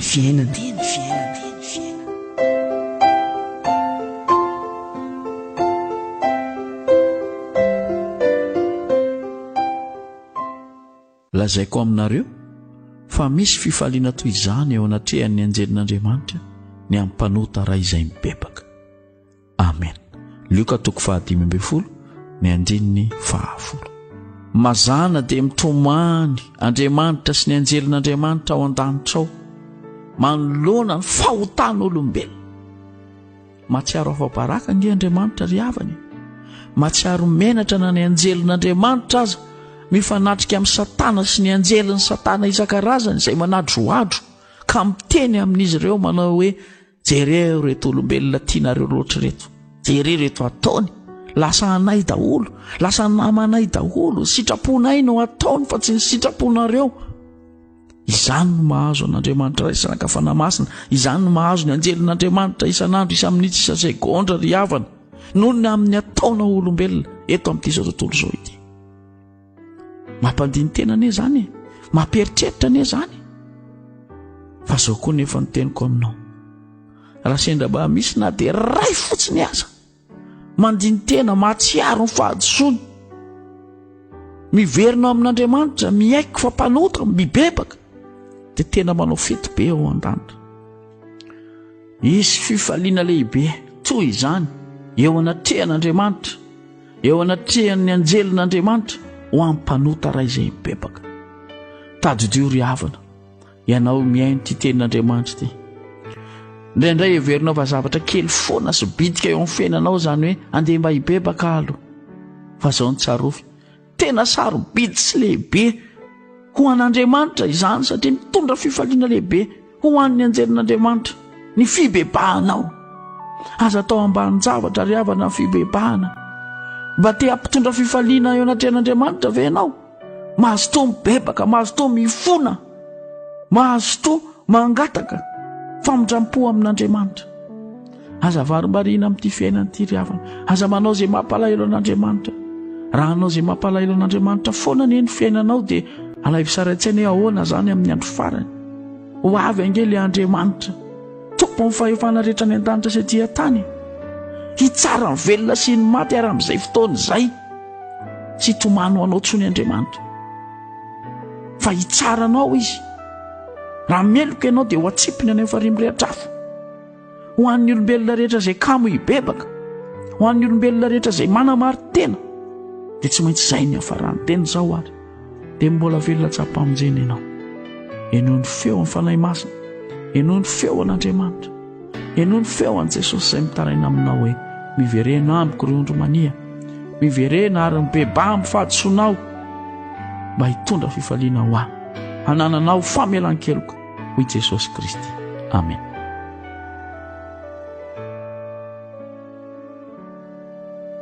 ny fiainana dia ny fiainana lazaiko aminareo fa misy fifaliana toy izany eo anatrehan'ny anjelin'andriamanitra ny ampanota raha izay mibebaka amen lioka toko fahadimy ambin'ny folo ny andininy fahafolo mazana dia mitomany andriamanitra sy ny anjelin'andriamanitra ao an-danitra ao manoloana ny fahotan'olombelona matsiaro afa-baraka nge andriamanitra ry havany matsiaro menatra na ny anjelin'andriamanitra aza mifanatrika amin'ny satana sy ny anjelin'ny satana isan-karazany izay manadroadro ka miteny amin'izy ireo manao hoe Jereo reto olombelona tianareo loatra reto, jereo reto ataony, lasa anay daholo, lasa namanay daholo, sitraponay no ataony fa tsy ny sitraponareo. Izany no mahazo an'Andriamanitra Ray sy Anaka Fanahy Masina, izany no mahazo ny anjelin'Andriamanitra isan'andro, isan-minitsy, isan-segondra ry havana, noho ny amin'ny ataona olombelona eto amin'ity izao tontolo izao ity. mampandiny tena anie zany e mampieritreritra anie zany fa zao koa nefa ny teniko aminao raha sendra mba misy na dia ray fotsiny aza mandiny tena mahatsiaro ny fahadisoany miverina ao amin'andriamanitra mihaiko fa mpanota mibebaka dia tena manao fety be ao an-danitra isy fifaliana lehibe toy izany eo anatrehan'andriamanitra Eo anatrehan'ny anjelin'Andriamanitra ho an'ny mpanota iray izay mibebaka. Tadidio ry havana, ianao mihaino ity tenin'Andriamanitra ity. Indraindray heverinao fa zavatra kely foana sy bitika eo amin'ny fiainanao izany hoe andeha mba hibebaka alo. Fa izao ny tsarovy, tena sarobidy sy lehibe ho an'Andriamanitra izany satria mitondra fifaliana lehibe. Ho an'ny anjelin'Andriamanitra, ny fibebahanao. Aza atao ambanin-javatra ry havana ny fibebahana. Mba te hampitondra fifaliana eo anatrehan'Andriamanitra ve ianao? Mazotoa mibebaka, mazotoa mifona, mazotoa mangataka famindram-po amin'Andriamanitra. Aza varimbariana amin'ity fiainana ity ry havana. Aza manao izay mampalahelo an'Andriamanitra. Raha hanao izay mampalahelo an'Andriamanitra foana anie ny fiainanao dia alaivo sary an-tsaina hoe ahoana izany amin'ny andro farany. Ho avy ange ilay Andriamanitra, tompon'ny fahefana rehetra any an-danitra sy aty an-tany. Hitsara ny velona sy ny maty ary amin'izay fotoana izay tsy hitomany ho anao tsony Andriamanitra. Fa hitsara anao izy. Raha meloka ianao dia ho atsipiny any amin'ny farihy mirehitra afo. ho an'ny olombelona rehetra izay kamo hibebaka ho an'ny olombelona rehetra izay manamary tena dia tsy maintsy izay ny hafarany tena izao ary dia mbola velona tsapamonjena ianao ianao ny feo amin'ny fanahy masina ianao ny feo an'andriamanitra ianao ny feo an'i jesosy izay mitaraina aminao hoe miverena amiko ry ondry mania miverena ary mibeba amin'ny fahadisoanao mba hitondra fifaliana ho ahy hanananao famelan-keloka hoy Jesosy Kristy. Amen.